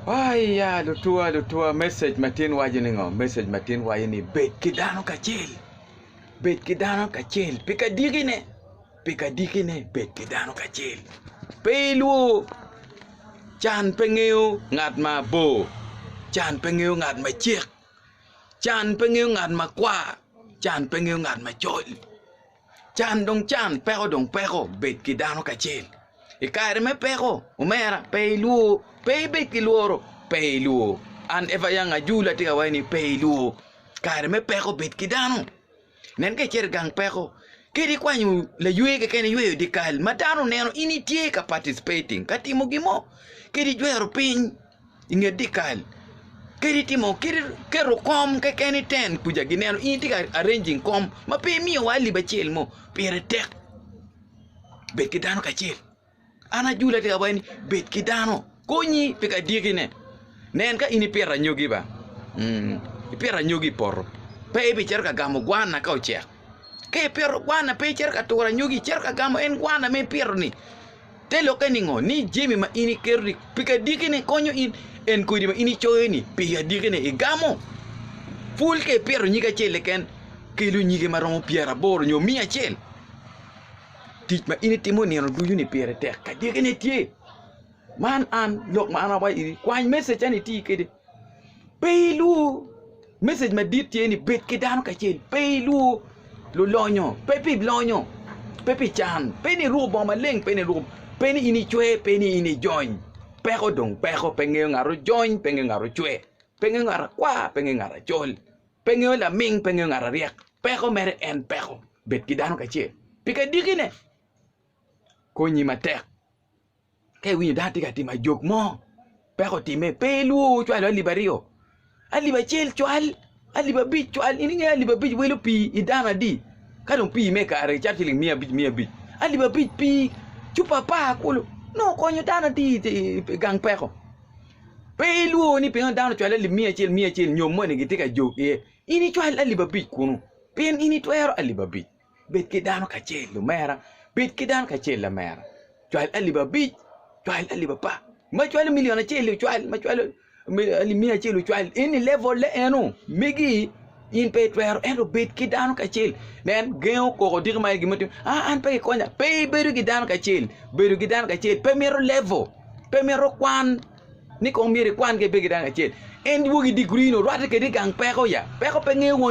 Aiya lutwa lutwa message matin waco ni ngo message matin waco ni bed ki dano kacel bed ki dano kacel pi ka diki ne pi ka diki ne bed ki dano kacel pe ilwor can pe ngeyo ngat ma bor can pe ngeyo ngat ma cek can pe ngeyo ngat ma kwar can pe ngeyo ngat macol Can dong can, peko dong peko, bed ki dano kacel. I kare me peko, omera, pe ilwor, pe ibed ki lworo, pe ilwor. An Eva Young Ajul atye ka waci ni pe ilwor. Kare me peko bed ki dano. Nen ka icito i gang peko, kadi ikwanyo laywe keken iyweyo dyekal ma dano neno in itye ka participating ka timo gin mo, kadi ijwero piny. I nge dyekal, kadi itimo kadi iketo kom keken iten kuca gineno in itye ka arranging kom ma pe imiyo wa lip acel mo pire tek bed ki dano kacel an ajule atye ka waco ni bed ki dano konyi pi ka dyekine nen ka in ipito anyogi ba ipito anyogi i poto pe ibicito ka gamo gwana ka ocek ka ipito gwana pe icito ka turo anyogi icito ka gamo en gwana ma ipito ni. Te lokke ningo ni jami ma in iketo-ni pi kadikine konyo in, en kodi ma in icoyo-ni pi adikine igamo? Pul ka ipito nyig acel keken, kelo nyige ma romo pyeraboro nyo miya acel. Tic ma in itimo nino ducu-ni pire tek, kadikine tye. Man an, lok ma an awaco iri, kwany message-ca-ni iti kwede. Pe ilwor. Message madit tye ni bed ki dano kacel, pe ilwor lulonyo, pe pi lonyo, pe pi can, pe ni iruko bongo maleng, pe ni iruko, pe ni in icwe, pe ni in ijony. Peko dong peko, pe ngeyo ngat ojony, pe ngeyo ngat ocwe, pe ngeyo ngat akwar, pe ngeyo ngat acol, pe ngeyo laming, pe ngeyo ngat aryek. Peko mere en peko, bed ki dano kacel. Pi kadikine, konyi matek. Ka iwinyo dano tye ka timo ajok mo, peko otime, pe ilwor woko cwalo alip aryo, alip acel cwal, alip abic cwal, in ingeyo ni alip abic welo pii i dano adi? Ka dong pii me kare cito ciling miya abic miya abic, alip abic pii cupa apar kulu nongo okonyo dano adi i gang peko? Pe ilwor ni pingo dano ocwalo alip miya acel miya acel nyo moni gitye ka jok iye, in icwal alip abic kunu pien in itwero alip abic. bed ki dano kacel lumera, bed ki dano kacel lamera, cwal alip abic, cwal alip apar, ma cwalo milion acel-li ocwal, ma cwalo alip miya acel-li ocwal, in i levol-le eno megi in pe itwero ento bed ki dano kacel, nen gengo koko odiko ma aye gin ma itimo, aa an pe kikonya, pe ibedo ki dano kacel, bedo ki dano kacel pe mito levol, pe mito kwan ni kong myero ikwan ka ibedo ki dano kacel, en dwogi digiri-ni orwatte kadi i gang peko ya, peko pe ngeyo won.